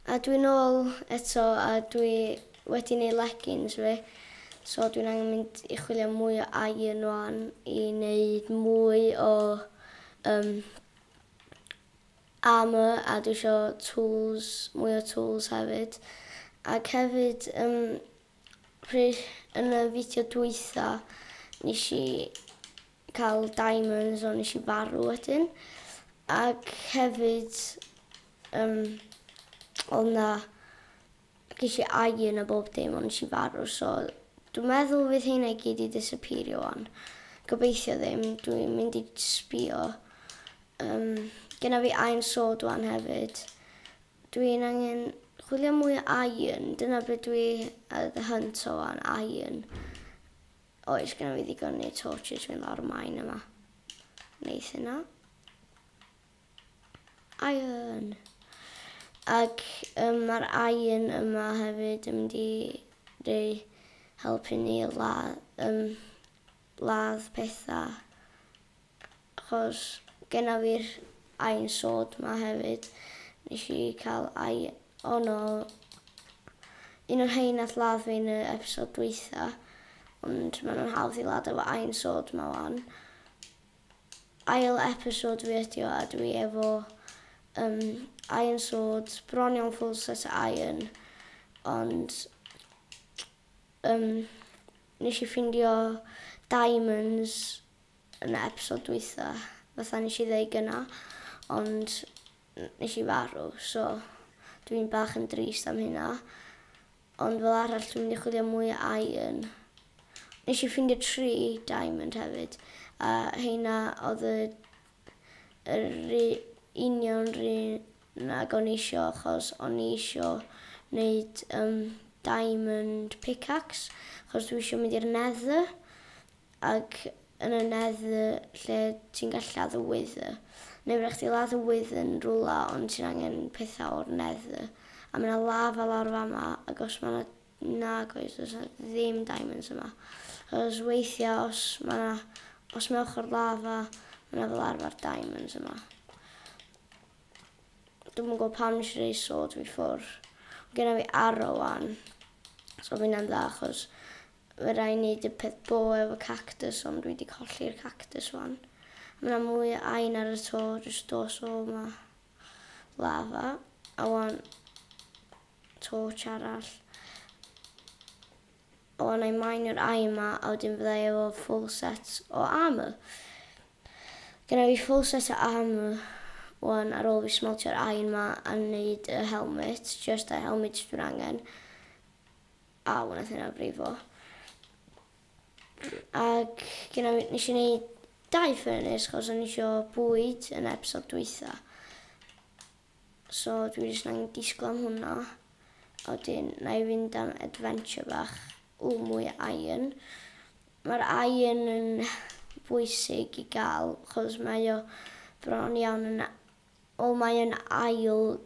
A dwi nôl eto a dwi wedi neud leggings fi so dwi'n angen mynd i chwilio am mwy o iron ŵan i neud mwy o yym armour a dwi isio tools mwy o tools hefyd ac hefyd yym pry- yn y fideo dwytha nesh i cael diamonds ond nes i farw wedyn ac hefyd um, oedd na ges i iron a bob dim ond nes i farw so dwi'n meddwl fydd hynna i gyd i disappeario o'n. Gobeithio ddim, dwi'n mynd i sbio. Um, Gyna fi iron sword wan hefyd. Dwi'n angen chwilio mwy o iron, dyna beth dwi ar y hunt o wan, iron. Oes gynno fi ddigon neu torches fynd lawr y mine yma. Neith hynna. Iron. Ac um, mae'r iron yma hefyd yn mynd i rei helpu ni ladd, um, ladd pethau Achos genna fi'r aen sod 'ma hefyd. Nesh i ca'l ai ono un o'r rhein nath ladd fi yn y episode dwytha ond ma' nw'n hawdd i ladd efo aen sod 'ma wan. Ail episode fi ydi o a dwi efo yym aen sod bron iawn full set o aen ond yym nesh i ffindio diamonds yn y episode dwytha fatha neshi ddeu gynna ond neshi farw so dwi'n bach yn drist am hynna ond fel arall dwi'n mynd i chwilio mwy o iron neshi ffindio tri diamond hefyd a heina odd y yr ru- union run ag o'n i isio achos o'n i isio neud um, diamond pickaxe achos dwi isio mynd i'r nether Ac yn y neddfu lle ti'n gallu lladd wyddfa, neu fedrwch chdi ladd wyddfa yn rywle ond ti'n angen pethau o'r neddfu. A mae yna lava lawr fama, ac os mae yna... Nag oes, does yna ddim diamonds yma. Achos weithiau os mae yna... Os mae ochr lava, mae yna fel arfer diamonds yma. Dwi'n mwyn gwybod pam nes i rei sword fi ffwr. Gyda fi arrow wan. So fi'n dda achos Fy rai neud y peth bo efo cactus ond dwi di colli'r cactus wan. Ma na mwy o ain ar y to jyst dos o ma lava a wan torch arall. A wan I mineio'r ain ma a wedyn fydda i efo full set o armor. Gynna fi full set o armor wan ar ôl fi smeltio'r ain ma a neud y helmet jyst y helmet dwi'n angen. A wnaeth hynna brifo. Ac gyda fi, nes i wneud dau ffyrnus, chos o'n i isio bwyd yn episod dwytha. So dwi jyst na'n disgwyl am hwnna. A wedyn, na i fynd am adventure bach. O, mwy o iron. Mae'r iron yn bwysig i gael, chos mae o bron iawn yn O mae yn ail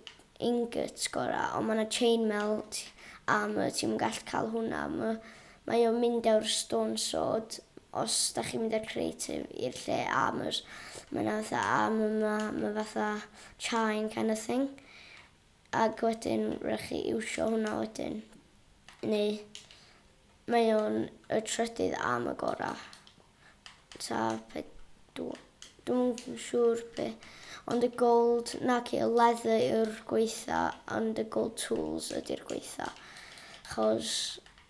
ingot gora ond ma na chain melt a my ti'm yn gallu cael hwnna my mae o'n mynd ew'r stone sword os da chi'n mynd â'r creative i'r lle a my'r ma na fatha a my ma my fatha chain kind of thing ag wedyn rhaid chi iwsio hwnna wedyn neu mae o'n y trydydd a my gora. Ta pedwar. Dwi'm yn siŵr be'. Ond y gold naci y leather yw'r gwaetha and y gold tools ydy'r gwaetha. Chos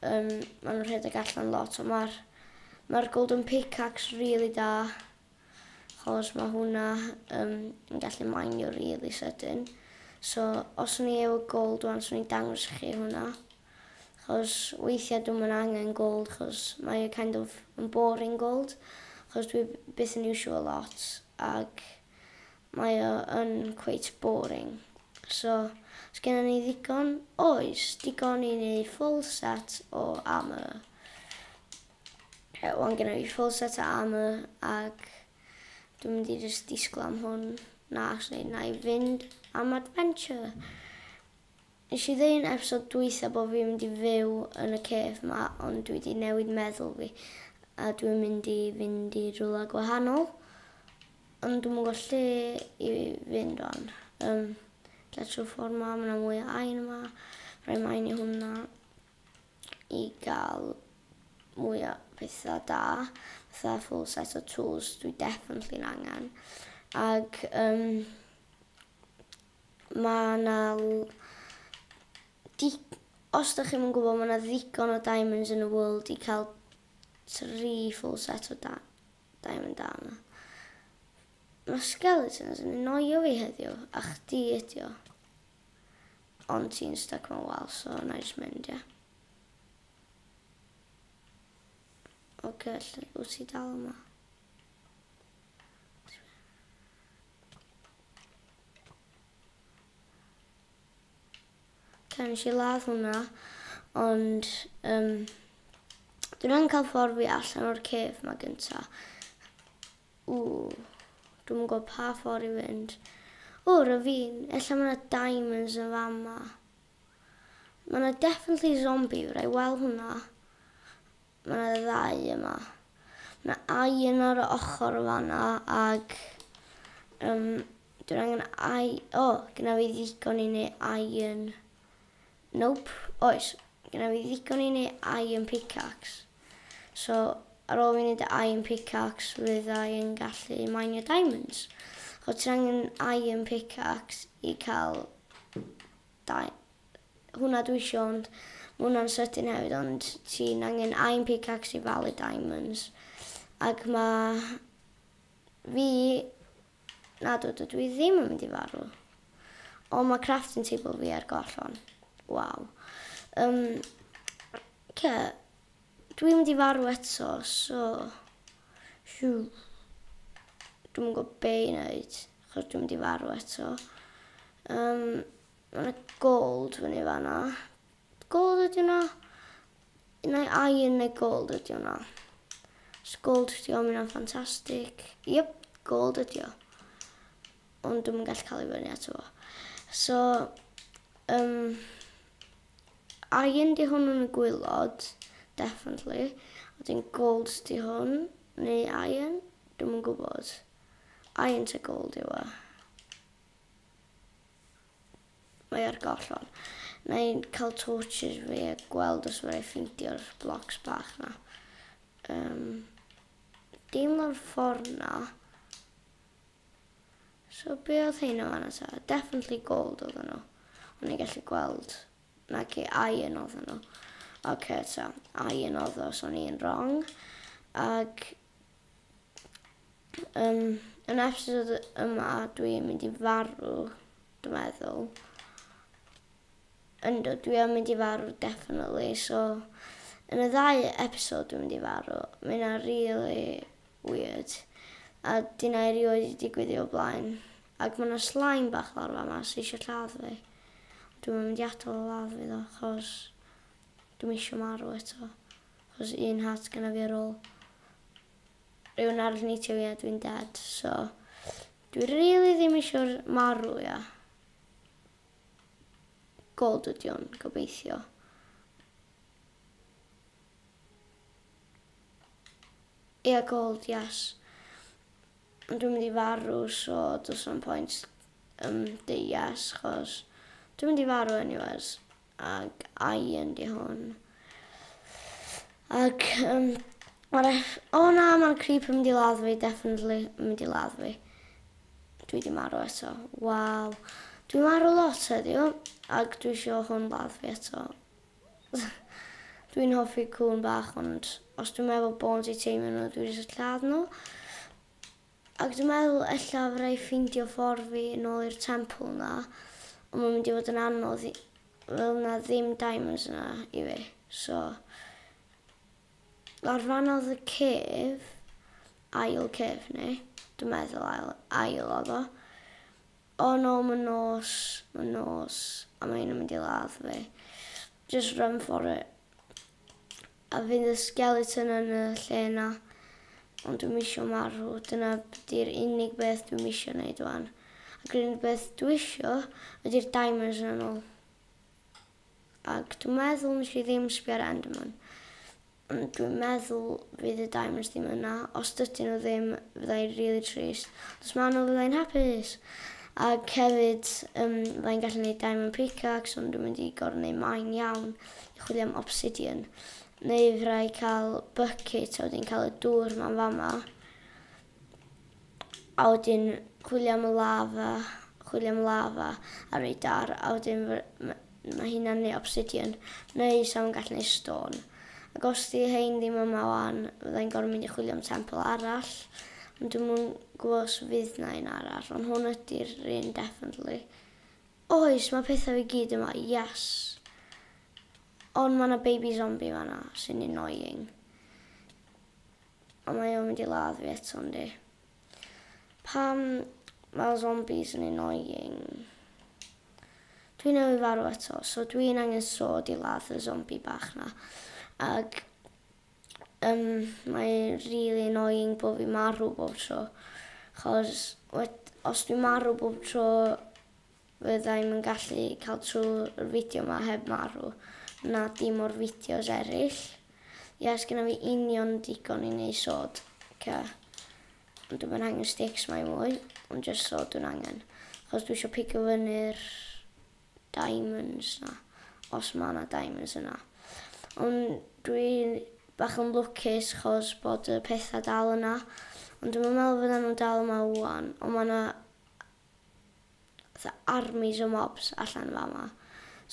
um, ma' nhw'n rhedeg allan lot ond mae'r ma golden pickaxe really da. Chos mae hwnna um, yn gallu mainio really sydyn. So os o'n i efo gold wan, so o'n i'n dangos chi hwnna. Achos weithiau dwi'm yn angen gweld achos mae e kind of yn boring gweld achos dwi byth yn iwsio fo lot ac mae o yn cweit boring. So os gennon ni ddigon, oes, digon i wneud full set o armour. Reit, wan gennon ni full set o armour ac dwi'n mynd i jyst disgwyl am hwn. Na, actually, na i fynd am adventure. Nes i ddeu'n episod dwytha bo fi'n mynd i fyw yn y cave ma ond dwi di newid meddwl fi a dwi'n mynd i fynd i rwla gwahanol ond dwi'm yn gwbo lle i fynd wan yym ella trw'r ffor ma ma na mwy o ain yma roi main i hwnna i ga'l mwy o petha da fatha full set o tools dwi definately'n angan ag yym Mae 'na dig- os dach chi'm yn gwybod, mae 'na ddigon o diamonds yn y world i cael tri full set o da- diamond da yma. Mae skeletons yn noio fi heddiw, a chdi ydi o. Ond ti'n stuck mewn wal, so na i jyst mynd, ie. Oce, lle wyt ti dal yma? Ocê nes i ladd hwnna ond yym dwi'n angen ca'l ffordd fi allan o'r cave ma gynta. Ww dwi'm yn gwbo pa ffor i fynd. O ravine ella ma' 'na diamonds yn fan 'ma. Ma' 'na definitely zombie raid wel hwnna. Mae 'na ddau yma. Mae 'na un ar y ochr fan'na ac um, dwi'n angen ai... O, oh, gyda fi ddigon i neu iron... Nope, oes. Gyda fi ddigon i neu iron pickaxe. So, ar ôl fi wneud y iron pickaxe, fydda i'n gallu minio diamonds. O, ti'n angen iron pickaxe i cael Da hwnna dwi isio ond ma' hwnna'n sydyn hefyd ond ti'n angen aim pickaxe i falu diamonds ac ma' fi nadw dydw i ddim yn mynd i farw ond ma' crafting table fi ar gollon waw um, ce dwi'n mynd i farw eto so hiw dwi'm yn gwybod be' i wneud. Achos dwi'n mynd i farw eto. Um, mae yna gold fyny fanna. Gold ydi hwnna? Neu iron neu gold ydi hwnna? Os gold ydi o, mae'n ffantastig. Yep, gold ydi o. Ond dwi'n gallu cael ei fyny eto fo. So, um, iron di hwn yn y gwylod, definitely. A dwi'n gold di hwn, neu iron, dwi'n yn gwybod. Faint o gold yw e? Mae ar gollon. Na i'n cael torches fi a gweld os mae'n ei ffeindio'r blocs bach na. Um, dim o'r ffordd na. So be oedd hyn o fanna ta? Definitely gold oedd nhw. Ond i'n gallu gweld. Na ci, iron oedd nhw. Oce, okay, ta. Iron oedd o, so o'n i'n wrong. Ac Yym yn episod yma dwi yn mynd i farw, dwi meddwl. Yndw dwi yn mynd i farw definitely so yn y ddau episod dwi'n mynd i farw. Mae hynna rili weird a dyna erioed wedi digwydd o blaen. Ac mae yna slime bach lawr fama sy eisiau lladd fi. Dwi'n mynd i atal o ladd fi ddo achos dwi'n eisiau marw eto. Os un hat gynna fi ar ôl rhywun arall neitio fi a dwi'n dead so dwi rili ddim eisiau'r marw ia. Gold ydi o'n gobeithio. Ia gold, yes. Ond dwi'n mynd i farw, so does na'm pwynt um, deud yes, chos dwi'n mynd i farw anyways. Ac ai yn di hon? Ac um, mae'r... O oh, na, mae'r creep yn mynd i ladd fi, definitely yn mynd i ladd fi. Dwi di marw eto. Waw. Dwi marw lot heddiw, ac dwi eisiau hwn ladd fi eto. Dwi'n hoffi cwn bach, ond os dwi'n meddwl bod i teimio nhw, dwi'n eisiau lladd nhw. Ac dwi'n meddwl ella fydda i ffeindio ffordd fi yn ôl i'r temple 'na, ond mae'n mynd i fod yn anodd i... fydd 'na ddim diamonds yna i fi, so... Lawr fan'na oedd y cave, ail cave neu dwi'n meddwl ail ail oedd o. Oh no ma nos, ma nos, a ma hyn yn mynd i ladd fi. Just run for it. A fydd y skeleton yn y lle na. Ond dwi'm isio marw, dyna di'r unig beth dwi'm isio neud wan. Ac yr unig beth dwi isio ydy'r diamonds yn ôl. Ac dwi'n meddwl nes i ddim sbio ar Enderman. Ond dwi'n meddwl fydd y Diamonds ddim yna. Os dydyn nhw ddim, fydda i'n rili trist. Ond os maen nhw, fydda i'n hapus. Ac hefyd, um, fydda i'n gallu gwneud Diamond Pickaxe, ond dwi'n mynd i gorau gwneud maen iawn i chwilio am obsidian. Neu fydda i cael bucket, a wedi'n cael y dŵr ma'n fama. a wedyn chwilio am y lava, chwilio am lava a radar, a wedyn mae hynna'n neu obsidian, neu sa fo'n gallu neu stone. Ac os di hein ddim yma wan, fydda i'n gorfod mynd i chwilio am temple arall, ond dwi'n mwyn gwybod os fydd na un arall, ond hwn ydy'r un definitely. Oes, mae pethau fi gyd yma, yes. Ond mae yna baby zombie fanna, sy'n annoying. A mae o'n mynd i ladd fi eto yndi? Pam mae'r zombies yn annoying? Dwi newydd farw eto, so dwi'n angen sod i ladd y zombie bach na. Ac um, mae'n really annoying bod fi marw bob tro. Chos os dwi'n marw bob tro, Fyddai'm yn gallu cael trwy'r fideo 'ma heb marw, na dim o'r fideos eraill. Ie, sgynna fi union digon i neud sod, ca. Ond dwi'm yn angen sticks 'ma i mwy, ond jyst sod dwi'n angen. Achos dwi isio pigo fyny'r diamonds 'na, os ma' 'na diamonds yna. Ond dwi bach yn lwcus achos bod y petha dal yna. Ond dwi'm yn meddwl fyddan nhw'n dal yma ŵan, ond ma' 'na fatha armies o mobs allan fama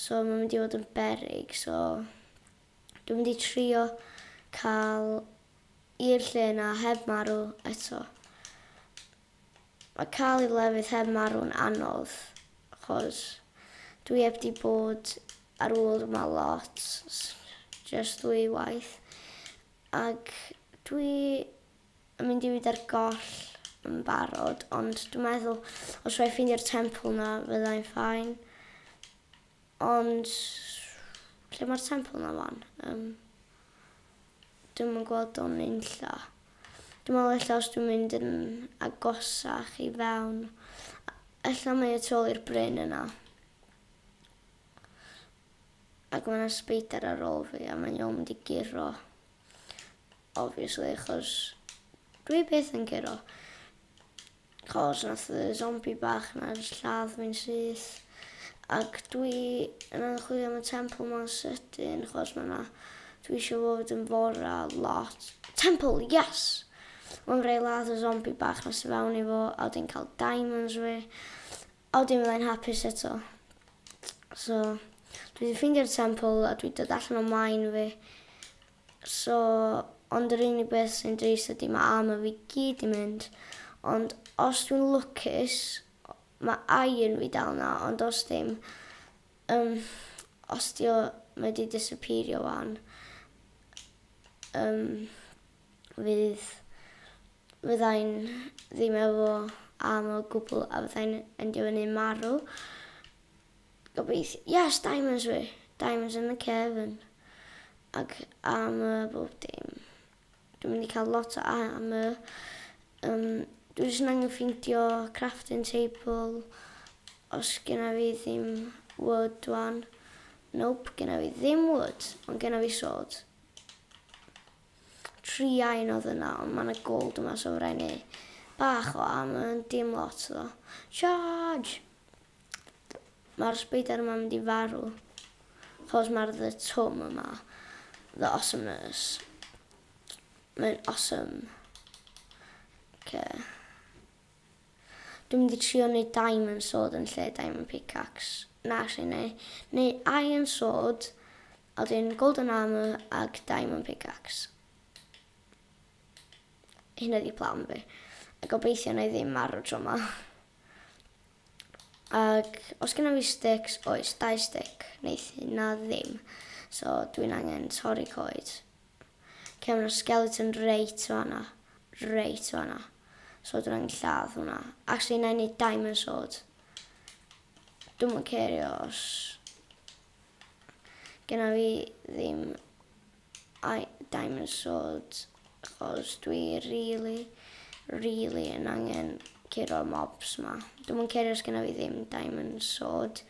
so ma'n mynd i fod yn beryg so dwi'n mynd i trio cael i'r lle yna heb marw eto. Mae cael i'r lefydd heb marw'n anodd achos dwi heb di bod ar ôl yma lot, jyst dwy waith ac dwi yn mynd i fyd ar goll yn barod ond dwi'n meddwl os rwy'n ffeindio'r temple yna fyddai'n ffain ond lle mae'r temple yna fan? Um, dwi'n yn gweld o'n unlla. Dwi'n meddwl eich os dwi'n mynd yn agosach i fewn. Eich mae y tol i'r bryn yna. Ac mae'n yna ar ôl fi a mae'n iawn mynd i giro. Obviously achos dwi byth yn curo. Cos nath y zombi bach na jyst lladd fi'n syth. Ac dwi yn angen chwilio am y temple ma'n sydyn chos ma' na... Dwi eisiau fo fod yn fora lot. Temple, yes! Ond rei ladd y zombi bach na sy'n fewn i fo a wedyn cael diamonds fi. Ond dim fyddai'n hapus eto. So, dwi 'di ffeindio'r temple a dwi dod allan o mine fi. So, ond yr unig beth sy'n drist ydi ma' armour fi gyd 'di mynd. Ond os dwi'n lwcus, ma' iron fi dal 'na, ond os dim, yym, os 'di o, mae 'di disapîrio 'wan. Yym. fydd, fyddai'n ddim efo am o gwbl a fyddai'n endio fyny marw. Gobeithio, yes, diamonds fi! Diamonds in the cavern. Ac am y bob dim. Dwi'n mynd i cael lot o am y... Um, dwi jyst yn angen ffeindio crafting table os gyna fi ddim wood wan. Nope, gyna fi ddim wood, ond gyna fi sword. Triain odd yna ond ma na gold yma so rai neu bach o armor ond dim lot ddo. Charge! Ma'r spider yma mynd i farw. Chos ma'r the twm yma. The awesomeness. Mae'n awesome. Okay. Dwi'n mynd i trio wneud diamond sword yn lle diamond pickaxe. Na, actually, neu, neu iron sword A wedyn golden armour ag diamond pickaxe. Hynna ydi plan fi. A gobeithio na i ddim marw tro ma. Ag os gynna fi sticks, oes, dau stick, neith hynna ddim. So dwi'n angen torri coed. Lle mae yna skeleton reit fanna. Reit fanna. So dwi'n angen lladd hwnna. Actually, na i wneud diamond sword. Dwi'n mwyn cerio os Gynna fi ddim I diamond sword achos dwi rili rili yn angen curo'r mobs ma. Dwi'm yn cerio os gynna fi ddim diamond sword.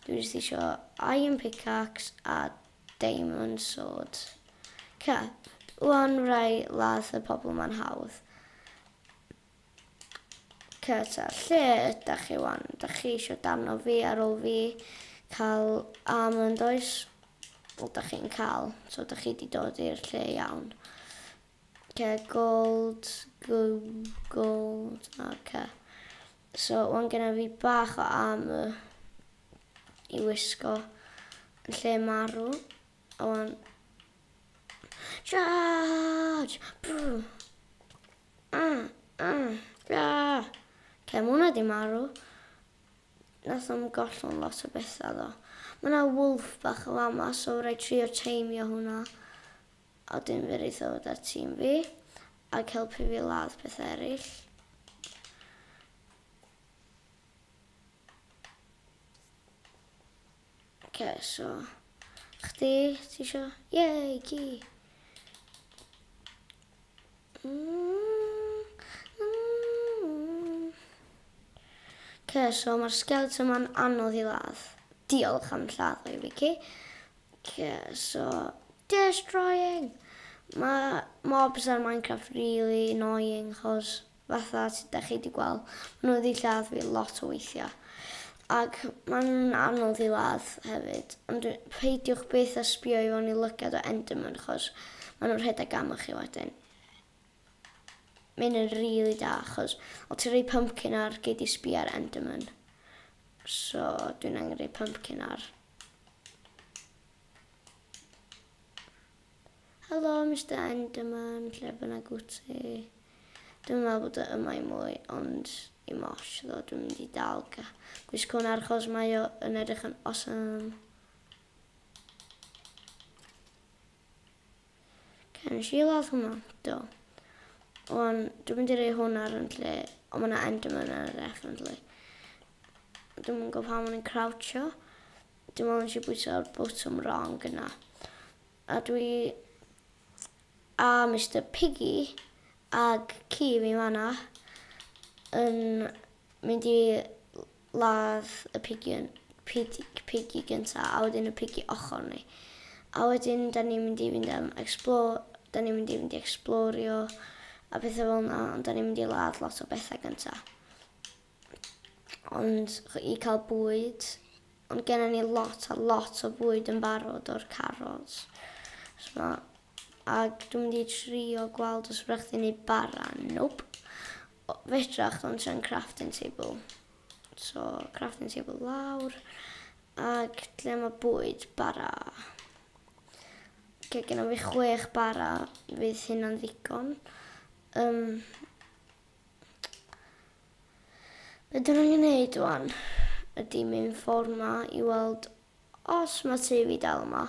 Dwi jyst isio iron pickaxe a diamond sword. Ca, wan rai ladd y pobl ma'n hawdd. Cyrsiau, lle ydach chi wan? Dach chi eisiau darno fi ar ôl fi cael almond oes? Wel, dach chi'n cael, so dach chi wedi dod i'r lle iawn. Okay, gold, gold, okay. So, wan gyda fi bach o armor i wisgo yn lle marw. A wan... Charge! Brr! Cefn hwnna 'di marw. Nath o'm gollwng lot o betha do. Ma' 'na wolf bach yn fama so raid trio teimio hwnna. A 'dyn fe neith o ddod â tîm fi ag helpu fi ladd petha eryll. Oce so chdi ti isio? Yay ci! Oce so mae'r sgelt yma'n anodd i ladd. Diolch am lladd i fi ci. Oce so destroying! Mae mobs ar Minecraft really annoying chos fatha sut 'dach chi 'di gweld, ma' nw wedi lladd fi lot o weithia', ac ma' nw'n anodd i ladd hefyd, ond dwi... Peidiwch byth â sbïo i fewn i lygad o Enderman achos ma' nw'n rhedeg arnoch chi wedyn. Ma' hyn yn rili da achos o' ti'n rhoi pumpkin ar gei di sbïo ar Enderman. So dwi'n angen rhoi pumpkin ar. Helo Mister Enderman, lle bynnag wyt ti? Dwi'n meddwl bod o yma i mwy, ond i'm ots ddo, dwi'n mynd i dal ga- gwisgo hwn ar achos mae o yn edrych yn awesome. Can nes i weld hwnna, do. Ond dwi'n mynd i rei hwn ar yn lle, ond mae yna Enderman ar yr F yn lle. Dwi'n mynd gwybod pam o'n i'n croucho. Dwi'n meddwl nes i bwyso'r botwm wrong yna. A dwi a Mister Piggy ag ci fi fana yn mynd i ladd y pigion pid- piggy gynta a wedyn y piggy ochor ni. A wedyn dan ni'n mynd i fynd am explore dan ni'n mynd i fynd i ecsblorio a petha fel 'na ond dan ni'n mynd i ladd lot o betha gynta. ond i cael bwyd. Ond gennym ni lot a lot o fwyd yn barod o'r carod. So, ac dwi'n mynd i trio gweld os ydych chi'n ei bara. Nope. Fedrach ddod tra'n crafting table. So, crafting table lawr. Ac lle mae bwyd bara. Lle gennym fi chwech bara fydd hynna'n ddigon. Um, Be dyn nhw'n gwneud wan ydy mynd ffordd yma i weld os mae tu fi dal yma.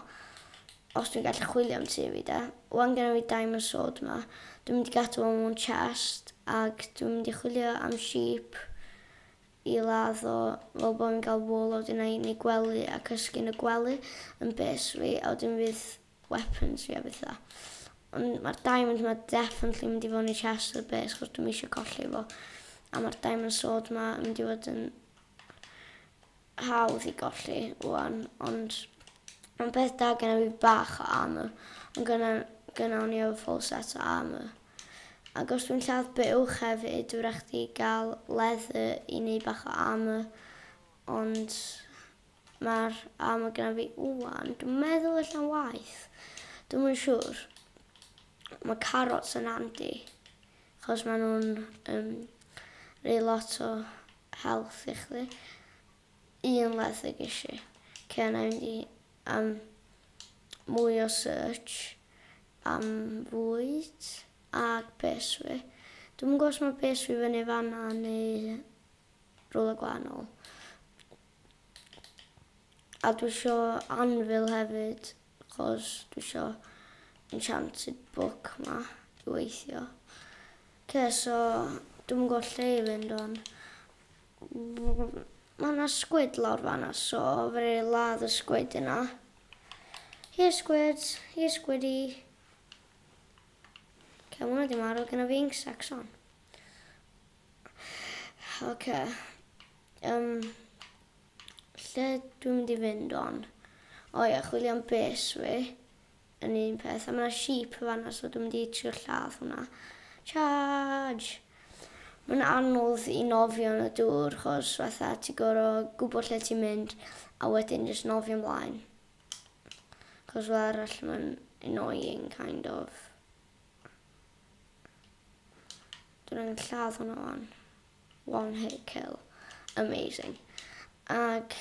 Os dwi'n gallu chwilio am tu fi de. Wan gen fi diamond sword yma. Dwi'n mynd i gadw fo mewn chest ac dwi'n mynd i chwilio am sheep i ladd o fel bod fi'n cael wool a wedyn na i ni gwely a cysgu yn y gwely yn base fi a wedyn fydd weaponry a betha. Ond mae'r diamond yma definitely mynd i fod yn y chest o'r base chos dwi'n eisiau colli fo. A mae'r diamond sword yma yn mynd i fod yn hawdd i golli wwan. Ond mae'n beth da gen i fi bach o armor. Ond gyna, gyna o'n i efo full set o armor. Ac os dwi'n lladd bywch hefyd, dwi'n rhaid i gael leather i wneud bach o armor. Ond Mae'r A mae gyda fi ŵan. Dwi'n meddwl ella'n waeth. Dwi'm yn siŵr. Mae carrots yn handi. Chos maen nhw'n um, rei lot o health i chdi. Un leth y ges i. Lle na mynd i um, mwy o search am fwyd ac beswi. Dwi'n gwybod os mae beswi fyny fanna neu rhywle gwahanol. A dwi isio anvil hefyd cos dwi isio enchanted book 'ma i weithio. Oce so dwi'm yn gwbo lle i fynd wan. Ma' 'na sgwid lawr fan 'na so fedra i ladd y sgwid yna. Here squid, here squiddy. Oce ma' wnna 'di marw, gynna fi ink sacs on. Ocê yym lle dwi'n mynd i fynd wan? O ia chwilio am bês fi yn un peth a ma' 'na sheep yn fan 'na so dwi'n mynd i trio lladd hwnna. Charge! Ma'n anodd i nofio yn y dŵr 'chos fatha ti gor'o' gwbo lle ti'n mynd a wedyn jyst nofio mlaen. 'C'os fel arall ma'n annoying kind of. Dwi'n angen lladd hwnna wan. One hit kill. Amazing. Ac,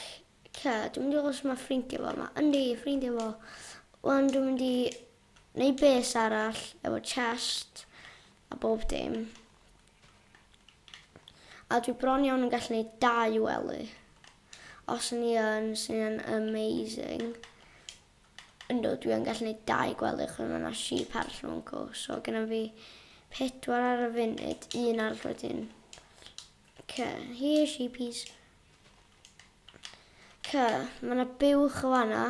ce, dwi'n mynd i os mae ffrindiau fo yma. Yndi, ffrindiau fo. Wan, dwi'n mynd i wneud bes arall efo chest a bob dim. A dwi bron iawn yn gallu gwneud dau wely. Os ni yn, sy'n amazing. Yndw, dwi yn gallu gwneud dau gwelych ond mae yna sheep arall yn fan co, so genna fi pedwar ar y funud, un arall wedyn. Ok, here sheepies. Ok, mae yna buwch o fanna,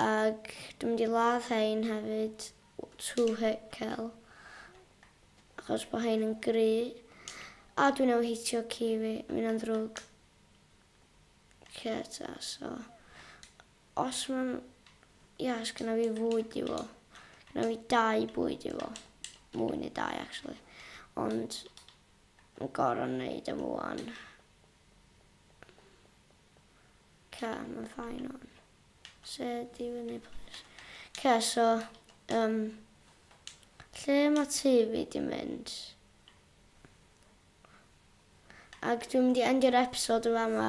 ac dwi'n mynd i ladd hein hefyd, two hit kill, achos bod hein yn gry, a dwi'n ei hitio ci fi, mi'n ddrwg. Cerdda so os ma'n ia os gynna fi fwyd i fo gynna fi dau bwyd i fo mwy na dau actually ond yn gor'o' neud am ŵan. Ca ma'n fine ŵan. Se di fyny plîs. Ca so yym lle ma' tŷ fi di mynd? Ag dwi'n mynd i endio'r episode yn fama.